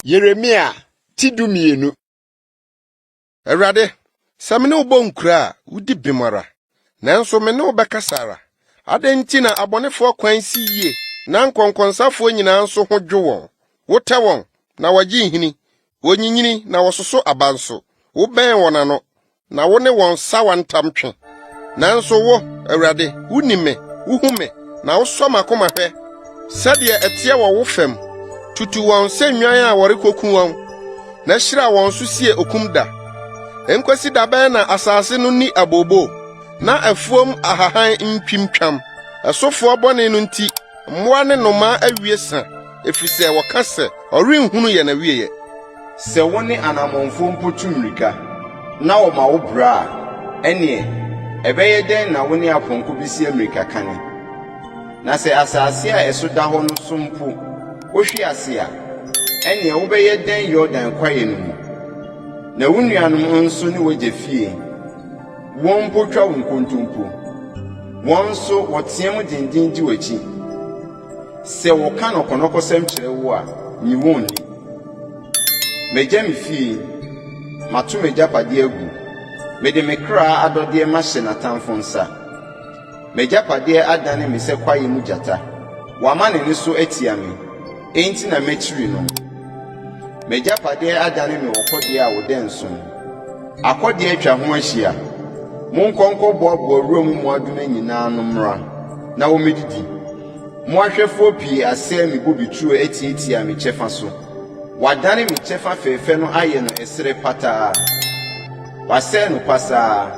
Yeremia ti dumienu. Awurade, sɛ me ne wo bɔ nkura a, wudi bem ara. Nanso me ne wo bɛkasa ara. Adɛn nti na abɔnefoɔ kwan si yie na nkɔnkɔnsafoɔ nyinaa nso ho dwo wɔn? Wotɛ wɔn, na wɔgye nhini. Wɔnyinyini, na wɔsoso aba nso. Wobɛn wɔn ano, na wo ne wɔn sawa ntam twe. Nanso wo, Awurade, wunim me, wuhu me, na wosɔ m'akoma hwɛ sɛdeɛ ɛteɛ wɔ wo fam. Tutu wɔn sɛ nnwan a wɔrekoku wɔn, na hyira wɔn so sie okum da. Enkosi da bɛn na asase no ni abooboo, na afuom ahahan ntwimtwam? Ɛsofoɔ bɔne no nti, mmoa ne nnomaa awie sa, efisɛ wɔka sɛ, 'Ɔrenhunu yɛn awieɛ. Sɛ wo ne anammɔnfoɔ mpo tu mmirika, na wɔma wo bra a, ɛnneɛ ɛbɛyɛ dɛn na wo ne apɔnkɔ bɛsi ammirikakane? Na sɛ asase a ɛso da hɔ no so mpo wohwe ase a, ɛnneɛ wobɛyɛ dɛn Yordan kwaeɛ no mu? Na wo nuanom nso ne w'agya fie, wɔn mpo twa wo nkontompo. Wɔn nso, wɔteam denden di w'akyi. Sɛ wɔka nnɔkɔnnɔkɔsɛm kyerɛ wo a, nyi wɔn nni. Magya me fie, mato m'agyapadeɛ agu, mede me kra adɔdeɛ mahyɛ n'atamfo nsa. M'agyapadeɛ adane me sɛ kwaeɛ mu gyata, wama ne nne so atia me, enti na mɛkyiri no. M'agyapadeɛ adane me ɔkɔdeɛ a ɔda nso mu. Akɔdeɛ atwa ho ahyia. Monkɔ nkɔboaboa wuram mmoadoma nyinaa ano mmra na wɔmmɛdidi. Mo ahwɛfoɔ pii asɛe me bobeturo atiatia me kyɛfa so. Wɔadane me kyɛfa fɛfɛ no ayɛ no ɛserɛ pataa. Wɔasɛe no pasaa.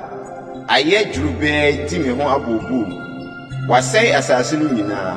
Ayɛ dworobɛɛ di me ho abooboo. Wɔasɛe asase no nyinaa.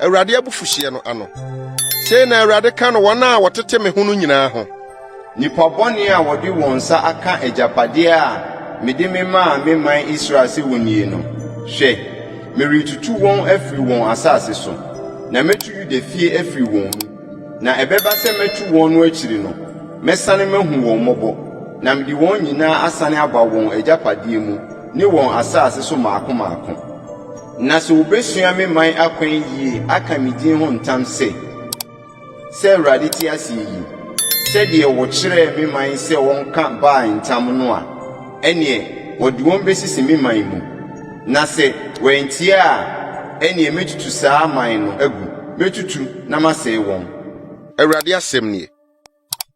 Awurade abufuhyeɛ no ano. Sei na Awurade ka no wɔn a wɔtete me ho no nyinaa ho. Nnipa bɔne a wɔde wɔn nsa aka agyapadeɛ a mede memaa me man Israel sɛ wɔnnie no, hwɛ, meretutu wɔn afiri wɔn asase so, na mɛtu Yuda fie afiri wɔn mu. Na ɛbɛba sɛ mɛtu wɔn no akyiri no, mɛsane mahu wɔn mmɔbɔ, na mede wɔn nyinaa asane aba wɔn agyapadeɛ mu ne wɔn asase so mmaako mmaako. Na sɛ wobesua me man akwan yiye aka me din ho ntam sɛ, 'Sɛ Awurade te ase yi, sɛdeɛ wɔkyerɛɛ me man sɛ wɔnka Baal ntam no a, ɛnneɛ wɔde wɔn besisi me man mu. Na sɛ wɔantie a, ɛnneɛ mɛtutu saa man no agu, mɛtutu na masɛe wɔn. Awurade asɛm nie.